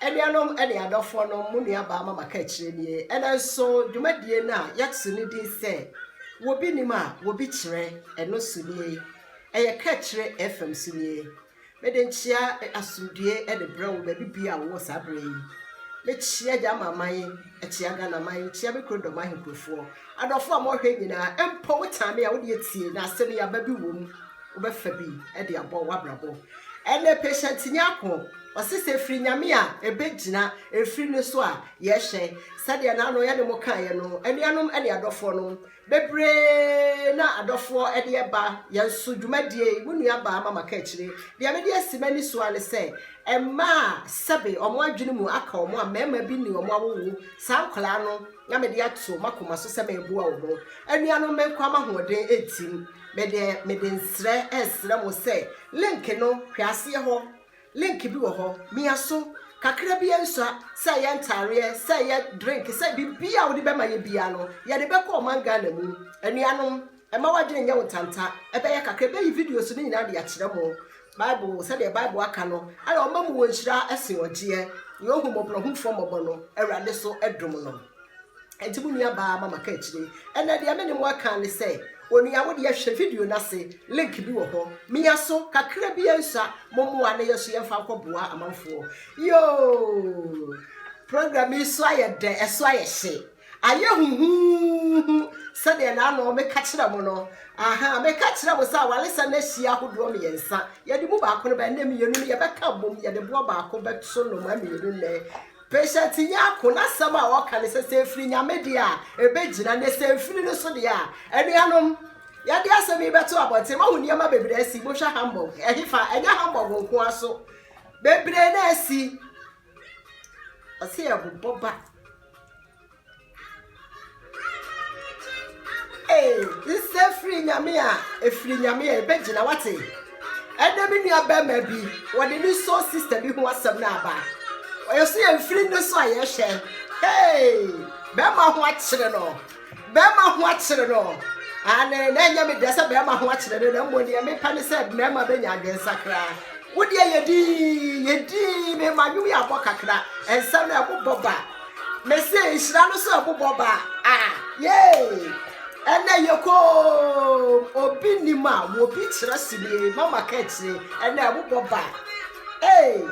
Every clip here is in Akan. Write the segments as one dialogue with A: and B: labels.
A: Anuanom ne adɔfoɔ no mo nuabaa ma maka akyire nie ɛnɛ nso dwumadie no a yɛato no din sɛ wɔbi nim a wɔbi kyerɛ ɛno so nie ɛyɛ ka akyire fm so nie mede nkyea asomdue ne brɛ wo baabi bia wowɔ saa berɛ yi mekyea gya ma man Ɛkyea Ghana man, ɛkyea me kuro dɔm ahenkurofoɔ. Adɔfoɔ a mowɔhɛ nyinaa, ɛmpɔ wo tan me a wode atie na asɛm yi aba bi wom wobɛfa bi de abɔ wabrabɔ. Ɛnɛ patient Nyarko ɔse sɛ ɛfiri Nyame a ɛbɛgyina ɛfiri no so a yɛhwɛ sɛdeɛ naano yɛne mo kaeɛ no anuanom ne adɔfoɔ no Bebree na adɔfoɔ de ɛba yɛn so dwumadie yi, mo nua baa Mama Kaakyire. Deɛ mede asi m'ani so ara ne sɛ, mmaa a sɛbe wɔn adwene mu aka wɔn a mmarima bi ne wɔn awowo, saa nkwadaa no na mede ato m'akoma so sɛ mereboa wɔn. Anuanom menkwa m'ahoɔden ntim, me deɛ mede nsrɛ resrɛ mo sɛ link no hwɛ aseɛ hɔ Link bi wɔ hɔ mia so kakra bi nsua sɛ ɛyɛ ntaareɛ sɛ ɛyɛ drink sɛ biribi a wode bɛma yɛ biara no yɛde bɛkɔ ɔman Ghana mu anuanom ɛma wadwene nyɛ wo ntanta ɛbɛyɛ kakra ɛbɛyi videos no nyinaa de akyerɛ mo Bible sɛdeɛ Bible aka no ɛna ɔma mu wɔ nhyira ɛsen ɔgyeɛ yɛ ohumɔborɔhumfoɔ mmɔbɔ no Awurade so ɛdom no. Enti mo nuabaa Mama ka akyire. Ɛnna deɛ me ne mo aka ne sɛ, Onua wo deɛ hwɛ video no ase, link bi wɔ hɔ. Mia so kakra bi nsa, mo mmoa na yɛn nso yɛmfa nkɔboa amanfoɔ. Yoo! Program yi so ayɛ dɛ, ɛso ayɛ hye. Ayɛ huhuuhu sɛdeɛ na ano meka kyerɛ mo no. Aha, meka kyerɛ mo sɛ awaresɛm no ahyia ahodoɔ mmiɛnsa. Yɛde mu baako no bɛn nnɛ mmienu no yɛbɛka bom, yɛde boɔ baako bɛto nnomaa mmienu nnɛ. Patient Nyarko n'asɛm a ɔka ne sɛ, sɛ ɛfiri Nyame deɛ a, ɛbɛgyina, na sɛ ɛmfiri no nso deɛ a, anuanom, yɛde asɛm yi bɛto abɔnten, moahu nneɛma bebree asi, mohwɛ Hamburg, ɛhefa, ɛnyɛ Hamburg nko ara so, bebree na asi, ɔse ɛbobɔ ba. Hey, nsɛ firi nyame a ɛfiri nyame a ɛbɛgyina wate ɛnɛ me nua bɛrima bi wɔde ne so sista bi ho asɛm no aba ɔyɛ so yɛ mfiri no so a yɛhwɛ hey bɛrima ho akyere no bɛrima ho akyere no ane na ɛnyɛ me deɛ sɛ bɛrima ho akyere no na mmɔ neɛ mepa ne sɛ mmarima bɛnya adwensakra wodeɛ yɛdi yɛdi mema nwom yɛ abɔ kakra ɛnsɛm no ɛbobɔ ba Mese nhyira no sɛ ɔbobɔ ba a yee ɛnɛ yɛ koom obi nim a wɔbi kyerɛ sini mama ka akyire ɛnɛ ɛbobɔ ba ee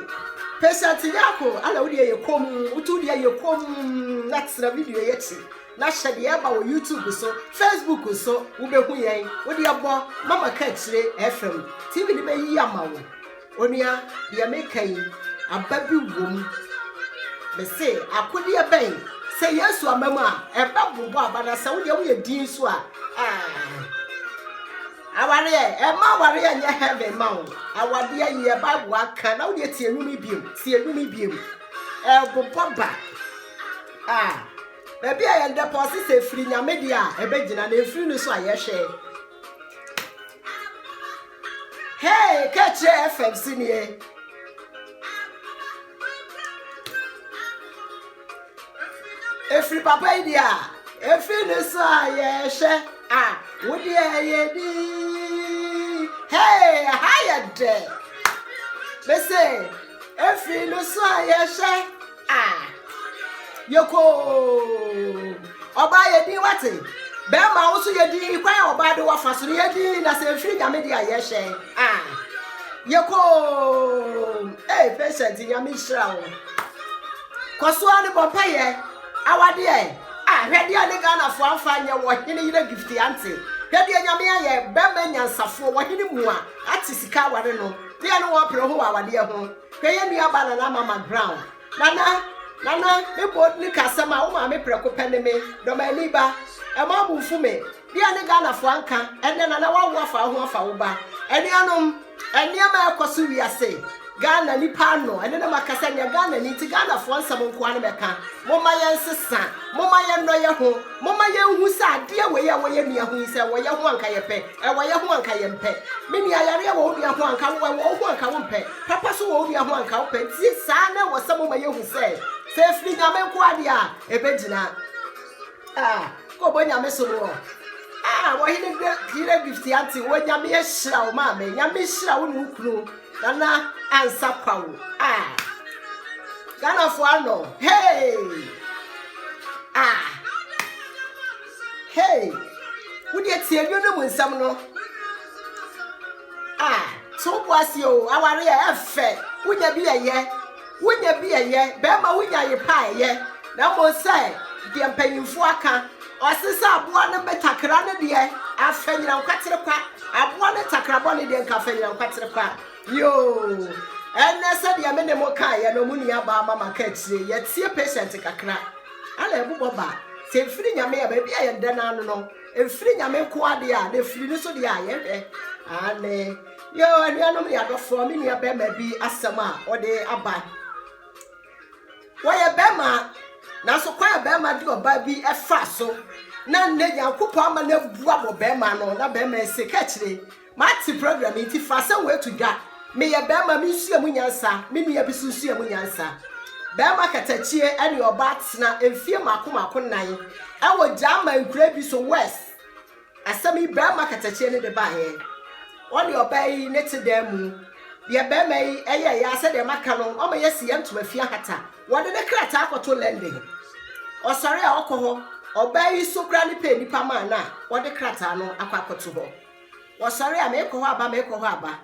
A: patient yako ala wo deɛ yɛ koom wotu deɛ yɛ koom na tena video yɛ akyi na hyɛ deɛ ɛba wɔ youtube so facebook so wobɛhu yɛn wo deɛ bɔ mama ka akyire fm tv no bɛyi ama wo Onua, deɛ meka yi, aba bi wom. Mese, akodeɛ bɛn? Sɛ Yesu ama mu a, ɛbɛbobɔ aba na sɛ wodeɛ woyɛ din nso a, awareɛ, ɛma awareɛ nyɛ heaven ma wo. Awadeɛ yɛ Bible aka na wodeɛ tie nnwom biom, tie nnwom biom. Ɛbobɔ ba. Ah. baabi a yɛn dɛpɔ ɔse sɛ firi nyame deɛ a ɛbɛgyina na ɛfiri no so a yɛhwɛ Hey, ka kyerɛ FM si nie. Efiri papa yi deɛ a, efi ne so a yɛhwɛ a, wo deɛ yɛ di. Hey, ha yɛ dɛ. Bese, efiri ne so a yɛhwɛ. Ah, yɛkoo. Ɔbaa yɛ din wate. Bɛrima wo so yɛ din kwan a ɔbaa de wafa so no yɛ din na sɛ ɛfiri nyame de a yɛhyɛ. Ah, yɛkoo. Ee, patient nyame nhyira wo. Kɔ so a ne bɔ mpa yɛ. Awadeɛ. Ah, hwɛ deɛ ne Ghanafoɔ amfa nyɛ wɔ hene yere gift ante. Hwɛ deɛ nyame ayɛ bɛrima nyansafoɔ wɔ hene mu a ate sika aware no. Deɛ ne wɔpere ho wɔ awadeɛ ho. Hwɛ yɛn nuabaa Nana Mama Brown. Nana, Nana, me bo ne ka asɛm a wo maame prɛko pɛ ne me, Dɔmani ba. Ɛmma wo bo mfu me. Deɛ ne Ghanafoɔ anka, ɛnnɛ Nana woawo afa wo ho afa wo ba. Anuanom, nneɛma a ɛrekɔ so wiase, Ghana nipa ano, ɛno na makasa nyɛ Ghanani nti Ghanafoɔ nsɛm nko ara na mɛka. Momma yɛnsesa, momma yɛnnɔ yɛn ho, momma yɛnhu sɛ adeɛ wei a ɛwɔ yɛn nua ho yi sɛ ɛwɔ yɛn ho a anka yɛpɛ. Ɛwɔ yɛ ho a anka yɛmpɛ. Me nua, yareɛ wɔ wo nua ho a anka wowɔ, ɛwɔ wo ho a anka wompɛ. Papa nso wɔ wo nua ho a anka wopɛ. Nti saa na ɛwɔ sɛ moma yɛhu sɛ, sɛ ɛfiri Nyame nkoa deɛ a, ɛbɛgyina. Ah, kɔbɔ Nyame som wɔ. Ah, wɔ hene Hene Gift Ante, wɔ Nyame ahyira wo maame, Nyame nhyira wo ne wo kunu, Nana Ansa Kwawo. Ah, Ghanafoɔ anɔ, hey! Ah! Hey! Wo deɛ tie nnwo no mu nsɛm no. Ah, so wo bo ase o, aware yɛ ɛfɛ. Wonya bi ɛyɛ. Wonya bi ɛyɛ. Bɛrima wonya ye pa ɛyɛ. Na mmom sɛ deɛ mpanyinfoɔ aka. Ɔse sɛ aboa no me takra no deɛ afɛ nyina nkwatere kwa. Aboa no takra bɔ ne deɛ nka afɛ nyina nkwatere kwa. Yoo. Ɛnɛ sɛ deɛ me ne mo kaeɛ no, mo nua baa mama ka akyire. Yɛtie patient kakra. Ana ɛbobɔ ba sɛ ɛfiri Nyame a baabi a yɛda no ano no ɛfiri Nyame nko adeɛ a na ɛfiri no so deɛ a yɛhwɛ ane yɛ anuanom ne adɔfoɔ me nua bɛrima bi asɛm a ɔde aba wɔyɛ bɛrima nanso kwan a bɛrima de ɔbaa bi ɛfa so na nnɛ nyankopɔn ama no abua wɔ bɛrima no na bɛrima ɛsɛ ka akyire Mate program yi nti fa sɛ woatu dwa Meyɛ bɛɛma me nsua mu nyansa Me nua bi so nsua mu nyansa Bɛɛma katakyie ɛne ɔbaa tena mfie mako mako nnan Ɛwɔ Gyaaman nkuraa bi so West Asɛm yi bɛɛma katakyie ne de baeɛ Ɔne ɔbaa yi ne te dan mu Deɛ bɛɛma yi ɛyɛɛ ya sɛdeɛ maka no Ɔma yɛ si yɛ ntoma fie ahata Wɔde ne krataa kɔto London Ɔsɔre a ɔkɔ hɔ Ɔbaa yi so koraa ne pɛ nnipa maa no a Ɔde krataa no akɔ akɔto hɔ. wɔsɔre a meekɔ hɔ aba meekɔ hɔ aba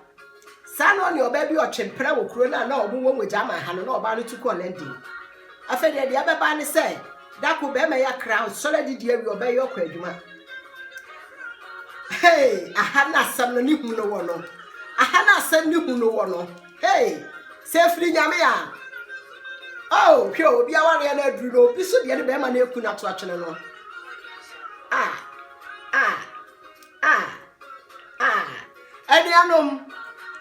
A: saa na ɔne ɔbaa bi ɔtwe mpena wɔ kuro no a na ɔmo wɔ wɔ German ha no na ɔbaa no tu kɔɔ London afei deɛ deɛ ɛbɛba ne sɛ dako bɛrima yɛ kra ɔsɔre adidi awie ɔbaa yi ɔkɔ adwuma hey aha na asɛm no ne hu no wɔ no aha na asɛm ne hu no wɔ no hey sɛ efiri nyame a oh hwɛ obi awareɛ no aduru no obi so deɛ ne bɛrima no eku na to atwene no ah ah Ah, ah. Anuanom,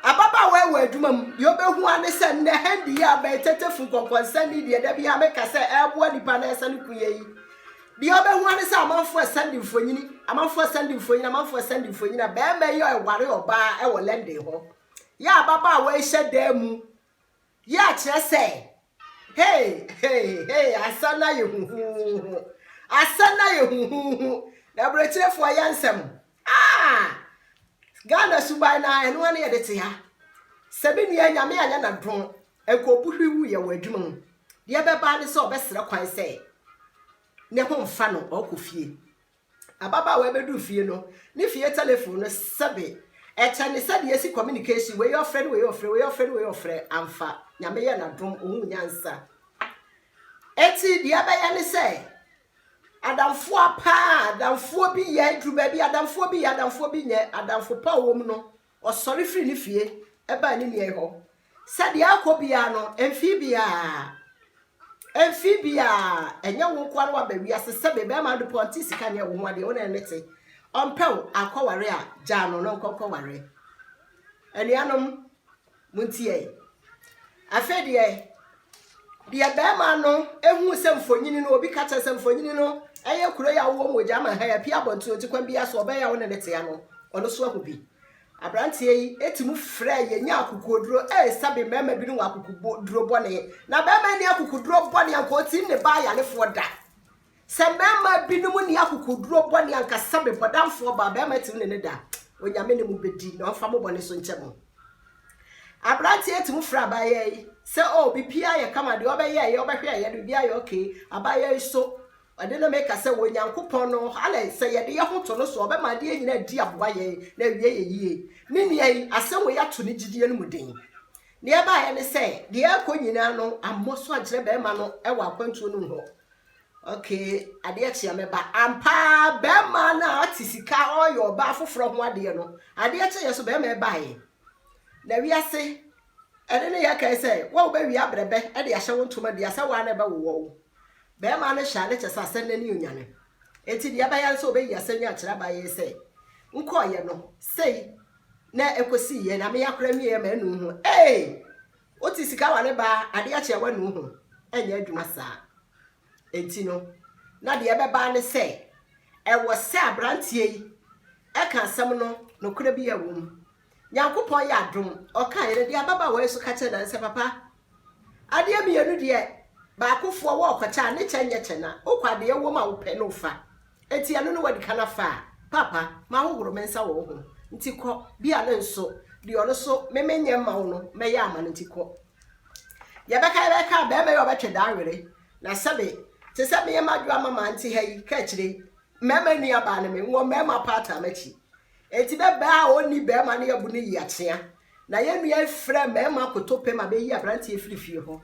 A: ababaawa yi wɔ adwuma mu. Deɛ ɔbɛhu ane sɛ nnɛ hand yi a bɛyɛ tetefo nkɔnkɔnsɛm yi deɛ da bi a meka sɛ ɛreboa nipa na ɛsɛ ne ko yɛ yi. Deɛ ɔbɛhu ane sɛ amanfoɔ ɛsɛnde mfonyini, amanfoɔ ɛsɛnde mfonyini, amanfoɔ ɛsɛnde mfonyini a bɛrima yi a ɛware ɔbaa ɛwɔ London hɔ. Yɛ ababaawa yi hyɛ dan mu Yɛ a kyerɛ sɛ, Hey, hey, hey, asa no ayɛ huhuuhu. Asa no ayɛ huhuuhu. Na aburokyerɛfoɔ yɛ nsɛm. Ah! Ghana suban no ara, ɛno ara na yɛde te ha. Sɛ me nua nyame anyɛ n'adom, nkɔbu hwi wu yɛ wɔ adwuma mu. Deɛ ɛbɛba ne sɛ ɔbɛsrɛ kwan sɛ ne ho mfa no, ɔkɔ fie. Ababaawa yi bɛduu fie no, ne fie telefon no sɛbe. Ɛkyɛ ne sɛdeɛ yɛsi communication, wei ɔfrɛ ne wei ɔfrɛ, wei ɔfrɛ ne wei ɔfrɛ, amfa. Nyame yɛ n'adom, ɔhuu nyansa. Enti deɛ ɛbɛyɛ ne sɛ, adamfoa paa, adamfoɔ bi yɛ, ɛduru baabi adamfoɔ bi yɛ, adamfoɔ bi nyɛ, adamfo pa a ɔwɔ mu no, Ɔsɔre firii ne fie baa ne nuayi hɔ, sɛdeɛ akɔ biara no, mfii biara, mfii biara, ɛnyɛ wo nkoa no waba wiase sɛ me bɛrima ade pɔ nte sika nyɛ wo ho adeɛ, wo na ne te, ɔmpɛ wo akɔware a, gyaa no na ɔnkɔ nkɔware. Anuanom, Montie. Afei deɛ, deɛ barima no huu sɛ mfonini no, obi ka kyerɛ sɛ mfonini no yɛ kuro yi a wowɔ mu wɔ German ha yi, apue abɔnten ɔti kwan biara so, ɔbɛn yi a wo ne no tea no, ɔno nso ahu bi. Aberanteɛ yi ti mu frɛɛ yɛ nyaa akokoɔduro, ee, sɛbe mmarima binom wɔ akokoɔduro bɔne, na barima yi nni akokoɔduro bɔne, anka ɔtim ne baa yarefoɔ da. Sɛ mmarima binom nni akokoɔduro bɔne anka sɛ me bɔdamfoɔ baa barima tumi ne no da a, Onyame ne mo bɛdi na ɔmfa mo bɔne so nkyɛ mo. Aberanteɛ tumi frɛ abaayewa yi sɛ o oh, biribiara yɛ kama deɛ ɔbɛyɛɛyɛ ɔbɛhwɛɛyɛ no biribiara yɛ okay abaayewa yi so ɛde no meka sɛ wɔ Nyankopɔn no alɛ sɛ yɛde yɛ ho to no so ɔbɛma adeɛ nyina di aboa yɛn na awie yɛ yie me nua yi asɛm wɔ yɛato ne gyidie no mu den deɛ ɛbaeɛ ne sɛ deɛ ɛkɔ nyinaa no ammɔ so akyerɛ bɛrima no wɔ akwantuo no mu hɔ Okay adeɛ kye a mɛba. Ampa ara bɛrima no a ɔte sika ɔreyɛ ɔbaa foforɔ ho adeɛ no, adeɛ kye yɛ so bɛrima ɛbaeɛ. Na wiase ɛne ne yɛ kae sɛ wo a wobɛwie abrɛbɛ de ahyɛ wo ntoma dua sɛ wo ara na ɛbɛwowɔ wo. Bɛrima no hyɛ ade kyɛ sɛ asɛm no ani onyane. Enti deɛ ɛbaeɛ ara sɛ ɔbɛyi asɛm yi akyerɛ abaeɛ yi sɛ nkɔeɛ no sei na ɛkɔsiiɛ na me akora nwieɛ manu ho. Ee! Wo te sika wɔ ne baa ade akyɛ wanu ho ɛnyɛ adwuma saa ɛnti no na deɛ ɛbɛbaa ne sɛ ɛwɔ sɛ abranteɛ yi ɛka asɛm no nokorɛ bi a ɛwom Nyankopɔn yɛ adom ɔkaeɛ no deɛ ababaawa yi so ka kyerɛ nansɛ papa adeɛ mmienu deɛ baako foɔ wɔ ɔkɔkyɛ a ne kyɛ nyɛ kyɛ na wokɔ adeɛ ɛwom a wopɛ na wofa Enti ɛno ne w'adikan afa a? Paapa, mahohoro me nsa wɔ wo ho, nti kɔ, bia no nso deɛ ɔno nso me menyɛ mma wo no mɛyɛ ama no nti kɔ. Yɛbɛka yɛbɛka a bɛɛma yi ɔbɛtwe daa were, na sɛbe te sɛ meɛ madwoa ma maa nte ha yi, ka akyire yi mɛɛma nua baa no me nwɔ mɛɛma paa taa m'akyi. Enti bɛ bɛɛ a ɔnni bɛɛma no yɛbu no yi akyea, na yɛn nua yi frɛ mɛɛma koto pɛ ma bɛyi abranteɛ firi fie hɔ.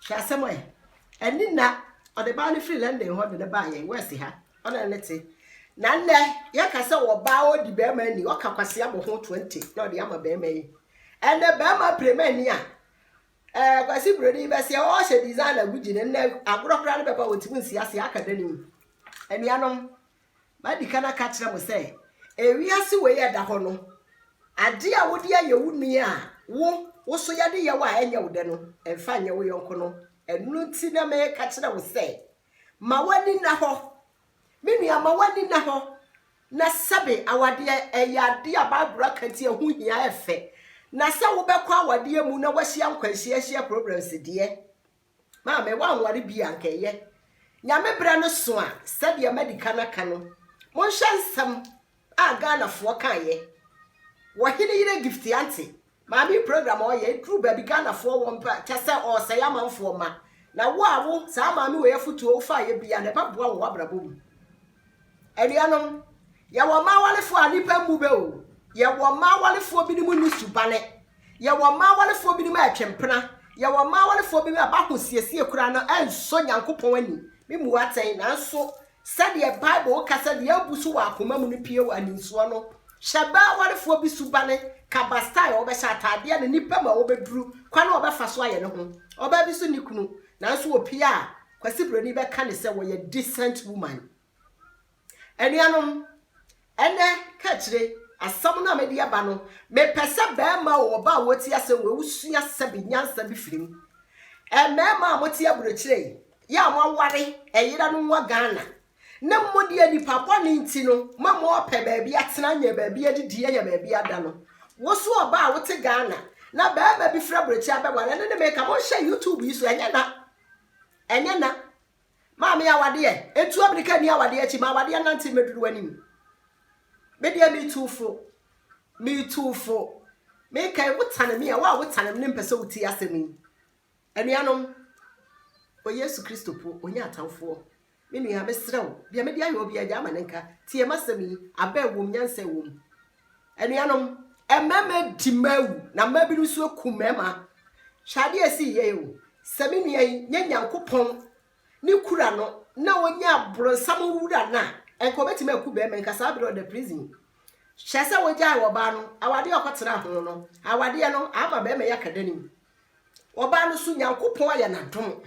A: Hwɛ asɛm ɛ! Ɛnne nna, ɔde baa no firi London hɔ de no baa yɛn West ha, ɔne ne ne te. Na nnɛ, yɛka sɛ wɔ baa ɔdi bɛrima ani, ɔka kwasea bɔ ho 20 na ɔde ama bɛrima yi. Ɛnɛ bɛrima prema ani a, ɛɛ kwasi buroni bɛseɛ ɔhyɛ design agu gyi no, nnɛ agorɔ koraa no bɛba wɔntumi nsi aseɛ aka da no mu. Anuanom, Madi kan aka akyerɛ mo sɛ, ewiase wei a ɛda hɔ no, ade a wode ayɛ wo nua a wo wo so yɛ adeyɛ wo a ɛnyɛ wo dɛ no, mfa nyɛ wo yɔnko no. Ɛno nti na meka kyerɛ wo sɛ, Ma w'ani nna hɔ. Me nua, ma w'ani nna hɔ na sɛbe awadeɛ, ɛyɛ ade a Bible aka nti ɛho hia, ɛfɛ. Na sɛ wobɛkɔ awadeɛ mu na woahyia nkwanhyia ahyia problems deɛ, Maame, woanware bi a, anka ɛyɛ. Nyame berɛ no so a, sɛdeɛ madi kan aka no, monhyɛ nsɛm a Ghanafoɔ kaeɛ wɔ Heneyere Gift Ante maame yi program a ɔyɛ, ɛduru baabi Ghanafoɔ wɔn pɛ a, kyɛ sɛ ɔresɛe amanfoɔ ma. Na wo a wo, saa maame wei afotuo wofaeɛ biara no, ɛbɛboa wo wɔ w'abrabɔ mu. Anuanom, yɛwɔ mmaa awarefoɔ a nnipa mmu bɛ o. Yɛwɔ mmaa awarefoɔ binom nni subane. Yɛwɔ mmaa awarefoɔ binom a ɛtwe mpena. Yɛwɔ mmaa awarefoɔ binom a b'ahosiesie koraa no ɛnsɔ Nyankopɔn ani. Me mmu atɛn, nanso sɛdeɛ Bible ka sɛ deɛ abu so wɔ akoma mu no pue wɔ aninsoɔ no, hyɛ bɛ awarefoɔ bi subane, ka ba style a wɔbɛhyɛ ataadeɛ ne nnipa mu a wɔbɛduru, kwan a wɔbɛfa so ayɛ ne ho. Ɔbaa bi nso nni kunu, nanso ɔpue a, Kwasi Broni bɛka ne sɛ wɔyɛ decent woman. Anuanom, ɛnɛ kaakyire asɛm no a mede aba no, mepɛ sɛ barima o, ɔbaa a wɔtie asɛm wei, wosua sɛbe nyansa bi firi mu. Mmarima a mote aburokyire yi, yɛ a moaware, ɛyera no nwa Ghana, ne mo deɛ nipa bɔne nti no, ma mo ɔpɛ baabi atena, anya baabi adidi, anya baabi ada no. Wo so ɔbaa a wote Ghana, na barima bi firi aburokyire abɛware, ɛno ne meka, monhyɛ YouTube yi so, ɛnyɛ na Ɛnyɛ na. Maame awadeɛ, ɛtu amirika ni awadeɛ akyi, ma awadeɛ nante mmɛduru w'anim. Me deɛ metu fo, metu fo. Meka yi, wotane me a, wo a wotane me ne mpɛ sɛ wotie asɛm yi. Anuanom, wɔ Yesu Kristo po, ɔnya atamfoɔ. Me nua, mesrɛ wo, deɛ mede ayɛ wo biara, gyae ma no nka. Tie m'asɛm yi, abɛ wom, nyansa wom. Anuanom, mmarima adi mmaa awu, na mmaa binom nso aku mmarima. Hwɛ adeɛ a ɛsii yɛn o. Sɛ me nua yi nyɛ Nyankopɔn ne kura no na ɔnyɛ aborɔnsam wura no a, ɛnka ɔbɛtumi aku barima, ɛnka saa berɛ ɔda prison. Hyɛ sɛ wogyae ɔbaa no, awadeɛ a ɔkɔtena ho no, awadeɛ no ama barima yi aka danim. Ɔbaa no so Nyankopɔn ayɛ no adom.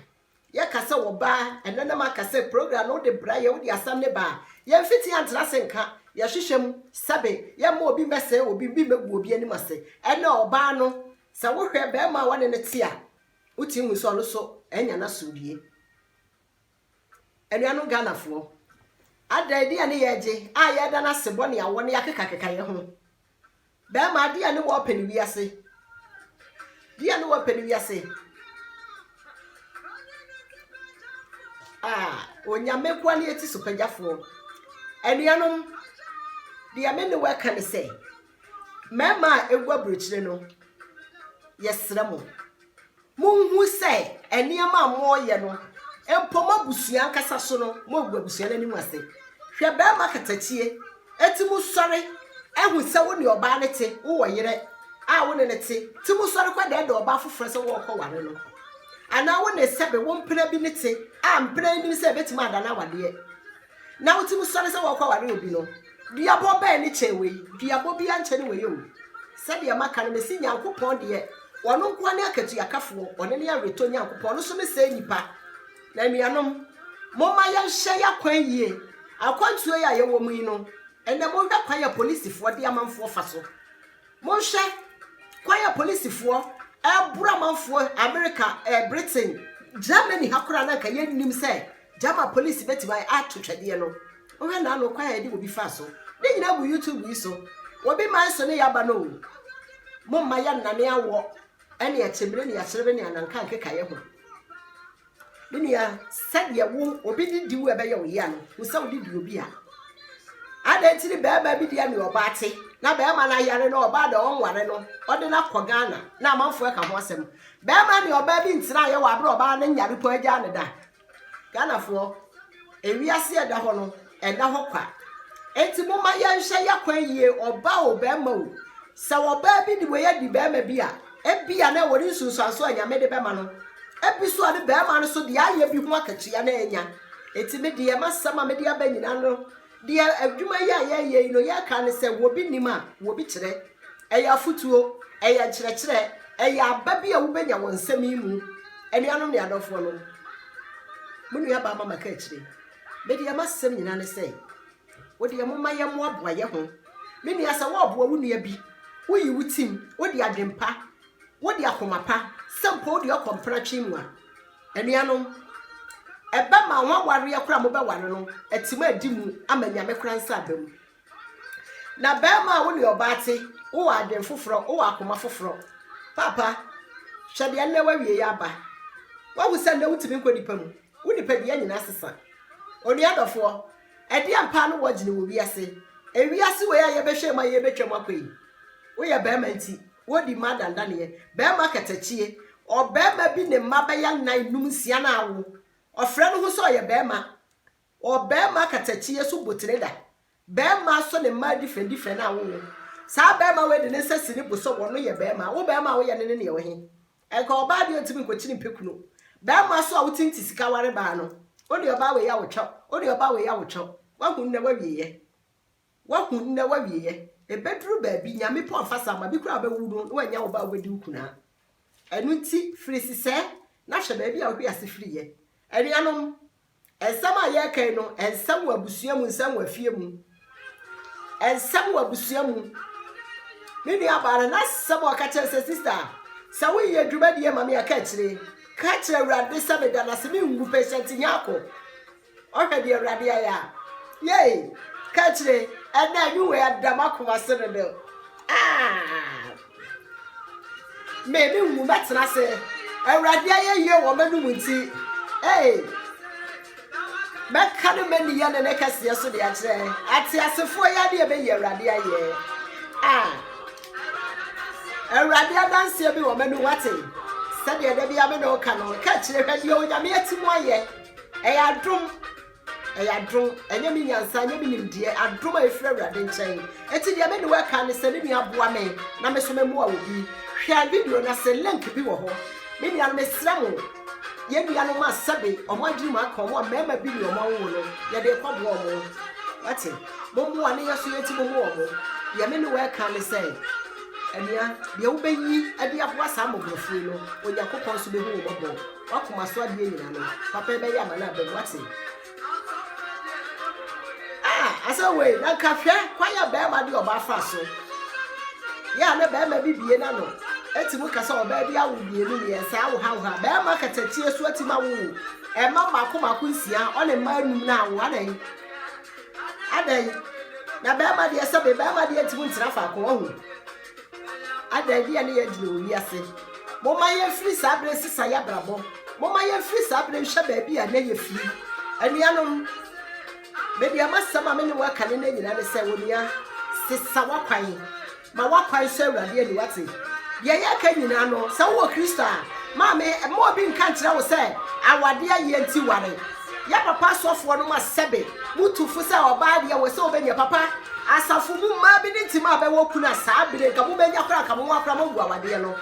A: Yɛ ka sɛ wɔ baa ɛnɛ na ma ka sɛ program no wo de brɛ yɛ wo de asɛm ne baa yɛ mfiti yɛ ntena se nka yɛ hwehwɛ mu sɛbe yɛ mma obi mmɛ sɛɛ obi bi mmɛ gu obi anim ase ɛnɛ ɔ baa no sɛ wo hwɛ bɛɛma a wɔne no te a wo ti hu sɛ ɔno so ɛnya na so die anuanom Ghana foɔ adɛn deɛ ne yɛ gye a yɛ da no ase bɔ ne awɔ ne yɛ akeka keka yɛ ho Bɛɛma deɛ ne wɔ pɛ ne wiase Deɛ ne wɔ pɛ ne wiase Ah, onyame koa ne ɛti so pagyafoɔ Anuanom, deɛ me ne wɔ ɛka ne sɛ Mɛɛma a ɛgu aburokyire no, yɛsrɛ mo Monhu sɛ nneɛma a moreyɛ no, mpo mo abusua ankasa so no, moagu abusua no anim ase. Hwɛ barima katakyie, enti mo sɔre, ahu sɛ wo ne ɔbaa no te, wowɔ yerɛ a wo ne no te, nti mo sɔre kɔ dɛɛdɛɛ ɔbaa foforɔ sɛ worekɔ ware no. Anaa wo ne sɛbe wo mpena bi no te, a mpena yi nim sɛ ɛbɛtumi adane awadeɛ. Na wo tirim sɔre sɛ wɔrekɔware obi no, duabɔ bɛn ne kyɛn wei? Duabɔ biara nkyɛ ne wei o. Sɛdeɛ maka no, mese Nyankopɔn deɛ, Ɔno nko ara ne akatuakafoɔ, Ɔno ne aweretɔ Nyankopɔn, Ɔno nso ne sɛɛ nipa. Na anuanom, momma yɛnhwɛ y'akwan yie. Akwantuo yi a yɛwɔ mu yi no, ɛnnɛ monhwɛ kwan a apolisifoɔ de amanfoɔ fa so. Monhwɛ, kwan a polisifoɔ ɛreboro amanfoɔ, Amerika, eh, Britain, Germany ha koraa na anka yɛnnim sɛ German polisi bɛtumi ayɛ ato twɛdeɛ no. Wohwɛ naano kwan a yɛde obi faa so. Ne nyinaa gu YouTube yi so. Obi man so ne yɛaba no o. Momma yɛnnane awɔ ɛne akyemmire ne akyerebe ne ananka nkekaeɛ ho. Me nua, sɛdeɛ wo obi de di wo a ɛbɛyɛ wo yea no, wo sɛ wode di obi a. Adɛn nti ne bɛrima bi deɛ ne ɔbaa te na bɛrima no ayare no ɔbaa deɛ ɔnware no ɔde no akɔ Ghana na amanfoɔ ɛka ho asɛm. Bɛrima ne ɔbaa bi ntena ayɛ wɔ abere ɔbaa no nyare po agyaa ne da. Ghanafoɔ, ewiase ɛda hɔ no Ɛnna hɔ kwa. Enti momma yɛnhwɛ yɛn kwan yie, ɔbaa o, barima o. Sɛ ɔbaa bi de wei adi barima bi a, ebia na ɛwɔ ne nsunsuanso a Nyame de bɛma no. Ebi nso a ne barima no nso deɛ ayɛ bi ho akatua na anya. Enti me deɛ m'asɛm a mede aba nyinaa no, deɛ adwuma yi a yɛyɛ yi no, yɛka ne sɛ wɔ bi nim a, wɔ bi kyerɛ. Ɛyɛ afotuo, ɛyɛ nkyerɛkyerɛ, ɛyɛ aba bi a wobɛnya wɔ nsɛm yi mu. Anuanom ne adɔfoɔ nom, mo nua baa mama ka akyire. Me deɛ m'asɛm nyinaa ne sɛ, wo deɛ momma yɛmmoaboa yɛ ho. Me nua sɛ wɔɔboa wo nua bi, woyi wo tim, wode adwen pa, wode akoma pa, sɛ mpo wode ɔkɔ mpena twe mu a, anuanom, ɛbɛ ma ho awareɛ koraa mobɛware no, atim a adi mu ama nyame koraa nsa aba mu. Na bɛɛma a wo ne ɔbaa te, wowɔ adwen foforɔ, wowɔ akoma foforɔ. Paapa, hwɛ deɛ nnɛ wawie yɛ aba. Wahu sɛ nnɛ wotumi nkɔ nipa mu. Wo nipadua nyina sesa. Onua dɔfoɔ, ɛdeɛn paa ne wɔgyene wɔ wiase? Ewiase wei a yɛbɛhwɛ mu a yɛrebɛtwa mu akɔ yi, woyɛ barima nti, wodi mmaa dandaneɛ, barima katakyie, ɔbarima bi ne mma bɛyɛ nnan, nnum, nsia na awo, ɔfrɛ ne ho sɛ ɔyɛ barima, ɔbarima katakyie so botire da, Bɛɛma sɔ ne mmaa difrɛn difrɛn a wowo. Saa bɛɛma wei de ne nsa si ne bo sɛ wɔno yɛ bɛɛma. Wo bɛɛma a woyɛ no ne neɛ wo he? Ɛnka ɔbaa deɛ ɔntimi nkɔkyini mpɛ kunu. Bɛɛma so a wotimi te sika ware baa no. Wone ɔbaa wei a wotwɛw. Wone ɔbaa wei a wotwɛw. Wahu nnɛ wawieɛ. Wahu nnɛ wawieɛ. Ɛbɛduru baabi Nyame pɛ ɔfa saa ma bi koraa a wobɛwo no na wannya ɔbaa a wobɛdi wo kunaa. Ɛno nti firi sesɛɛ na hwɛ baabi a wohwe ase firiiɛ. Anuanom. Nsɛm a yɛreka yi no, nsɛm wɔ abusua mu, nsɛm wɔ afie mu. Nsɛm wɔ abusua mu. Me nua baa no, n'asɛm a ɔka kyerɛ sɛ, sista, sɛ woyɛ dwumadie ma me a, ka akyire. Ka kyerɛ Awurade sɛ meda no ase, mengu patient Nyarko. Ɔhwɛ deɛ Awurade ayɛ a. Yei, ka akyire, ɛnɛ anwuwei ada m'akoma se no do. Ah! Me ne wo bɛtena ase. Awurade ayɛyie wɔ m'anom nti. Ee. Mɛka ne mani yɛ ne ne kɛseɛ so de akyerɛ. Ateasefoɔ yi adeɛ bɛyi Awurade ayɛ. A. Awurade adanseɛ bi wɔ m'anom ate. Sɛdeɛ da bi ame na ɔka no, ka akyire hwɛ deɛ onyame ati mu ayɛ. Ɛyɛ adom. Ɛyɛ adom, ɛnyɛ me nyansa, ɛnyɛ me nimdeɛ, adom a ɛfiri Awurade nkyɛn. Enti deɛ me ne wo reka ne sɛ, me nua boa me na me nso memmoa wo bi. Hwɛ video no ase, link bi wɔ hɔ. Me nuanom, mesrɛ mo, yɛn nuanom a sɛbe wɔn adwene mu aka wɔn a mmarima bi ne wɔn awowo no, yɛde rekɔboa wɔn. Wate? Mommoa ne yɛ so yɛ nti mommoa wɔn. Deɛ me ne wo reka ne sɛ, anua, deɛ wobɛyi de aboa saa mmɔborɔfoɔ yi no, Onyankopɔn nso bɛhu wo mmɔbɔ. W'akoma so adeɛ nyinaa no papa ɛbɛyɛ ama no aba mu wate ah asɛ wei na nka hwɛ kwan a bɛrima de ɔbaa fa so yɛ a na bɛrima bi bie na no ɛti mu kasa ɔbaa bi awo mmienu mmiɛnsa awo ha wo ha bɛrima katakyie so ati ma wo ɛma mmaako mmaako nsia ɔne mma anum na awo adɛn adɛn na bɛrima deɛ sɛbe bɛrima deɛ ntumi ntena faako ɔho Adɛn nti na yɛgyina wɔ wiase? Momma yɛmfiri saa berɛ nsesa yɛn abrabɔ. Momma yɛmfiri saa berɛ nhwɛ baabi a na yɛfiri. Anuanom, medeɛ m'asɛm a me ne wɔka ne no nyinaa ne sɛ, onua, sesa w'akwan. Ma w'akwan sɔ Awurade ani wate. Deɛ yɛka nyinaa no, sɛ wowɔ Kristo a, ma me, ma obi nka nkyerɛ wo sɛ awadeɛ ayɛ nti ware. Yɛ papa asɔfoɔ no ma sɛbe mo tu fo sɛ ɔbaa deɛ wɔ sɛ ɔbɛnya papa asafo mu mmaa bi ne tim a bɛwɔ kun a saa bere nka mo bɛnya koraa nka mo ho akora mo agu awadeɛ no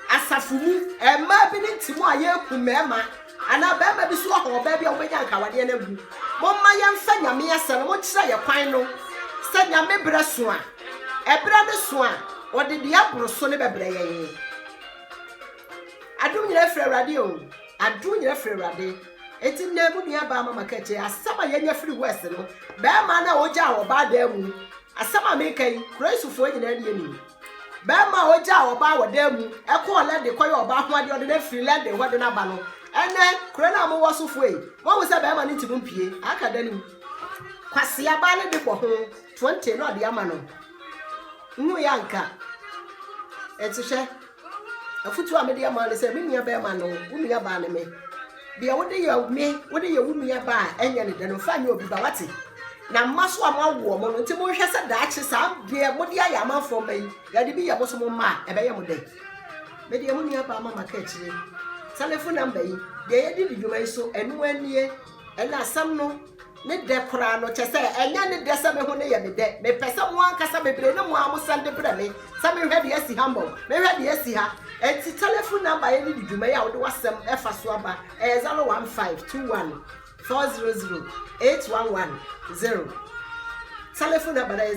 A: asafo mu mmaa bi ne tim a yɛku mmarima anaa barima bi so wɔ hɔ ɔbaa bi a wobɛnya nka awadeɛ no agu mo mma yɛmfa nyame asɛ no mo kyerɛ yɛ kwan no sɛ nyame berɛ so a ɛberɛ no so a ɔde deɛ aboro so ne bɛbrɛ yɛn Adom nyina firi awurade o. Adom nyina firi awurade. Eti nnɛ mu nua baa mama kɛkyɛ asɛm a yɛnya firi west no bɛrima no a ogya a ɔbaa dan mu asɛm a meka yi kuraisofoɔ nyinaa deɛ nim bɛrima a ogya a ɔbaa wɔ dan mu ɛkɔɔ lɛde kɔyɛ ɔbaa ho adeɛ ɔde no afiri lɛde hɔ de no aba no ɛnɛ kuro no a mowɔ sofoɔ yi moahu sɛ bɛrima no nti mo mpie aka da nim kwasea baa no de bɔ ho 20 na ɔde ama no nhu yɛ anka ɛti hwɛ Afotu a mede ama ne sɛ, me nua bɛrima no, wo nua baa ne me. Deɛ wode yɛ me, wode yɛ wo nua baa ɛnyɛ ne dɛ no, fa nyɛ obi ba wate. Na mma so a mo awo wɔn no, nti monhwɛ sɛ daakye saa deɛ mode ayɛ amanfoɔ mma yi, yɛde bi yɛ mo so mo mma a, ɛbɛyɛ mo dɛ. Me deɛ mo nua baa ma maka akyire. Telefon namba yi, deɛ yɛde di dwuma yi so, ɛno anie. Ɛnna asɛm no ne dɛ koraa no, kyerɛ sɛ, ɛnyɛ ne dɛ sɛ me ho no yɛ me dɛ. Mepɛ sɛ mo ankasa bebree ne mo ara mosɛn de brɛ me sɛ menhwɛ deɛ asi ha mmɔ, menhwɛ deɛ asi ha. Enti telefon namba yɛ de di dwuma yi a wode w'asɛm fa so aba ɛyɛ 015214008110. Telefon namba no yɛ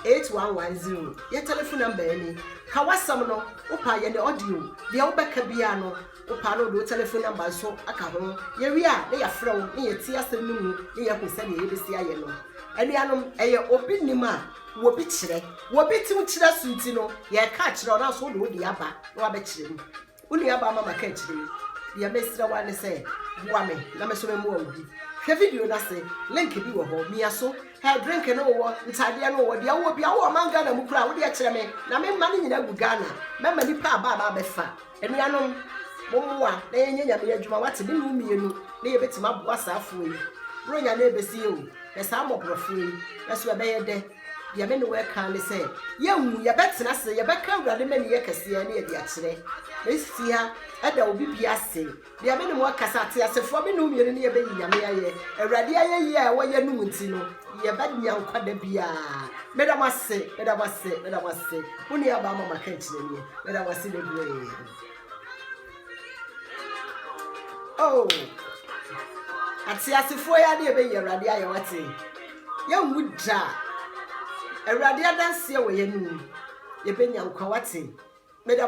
A: 015214008110. Yɛ telefon namba yɛ ni. Ka w'asɛm no, wo paa yɛ no audio, deɛ wo bɛka biara no wo paa na wode wo telephone number nso aka ho, yɛ wie a na yɛ frɛ wo na yɛ tie asɛm no mu na yɛ hu sɛdeɛ yɛ bɛsi ayɛ no. Anuanom ɛyɛ obi nim a wɔ bi kyerɛ, wɔ bi tim kyerɛ so nti no yɛ ka kyerɛ wo nanso wode wo deɛ aba na wabɛkyerɛ mu. Wo nuabaa mama ka akyire yi. Deɛ mɛsrɛ wo ara ne sɛ boa me na me nso me mmoa wo bi. Hwɛ video no ase, link bi wɔ hɔ, mia so. Hɛ, drink no wowɔ, ntaadeɛ no wowɔ, deɛ wowɔ biara wowɔ ɔman Ghana mu koraa a, wodeɛ kyerɛ me na me mma no nyinaa agu Ghana. Mɛma nnipa aba aba abɛfa. Anuanom, mommoa na yɛnyɛ Nyame adwuma, woate, me ne wo mmienu na yɛbɛtumi aboa saa afoɔ yi. Buronya no ɛrebɛsi yɛ o, hwɛ saa mmɔborɔfoɔ yi, nanso ɛbɛyɛ dɛ. Deɛ me ne wo ɛka ne sɛ, yɛnwu, yɛbɛtena ase, yɛbɛka Awurade mani yɛ kɛseɛ ne ɛde akyerɛ. Mesi ha ɛda obi bi ase. Deɛ me ne mo ɛka sɛ ateasefoɔ me ne wo mmienu ne yɛbɛyi Nyame ayɛ. Awurade ayɛyie a ɛwɔ yɛn no mu nti no, yɛbɛnya nkwa da biara. Meda mo ase, meda mo ase, meda mo ase. Mo nua baa mama kankyerɛniɛ, meda mo ase bebree. Oh, ateasefoɔ yi adeɛ bɛyi awurade ayɛ wate yɛnwu da awurade adanseɛ wɔ yɛn mu yɛbɛnya nkwa wate meda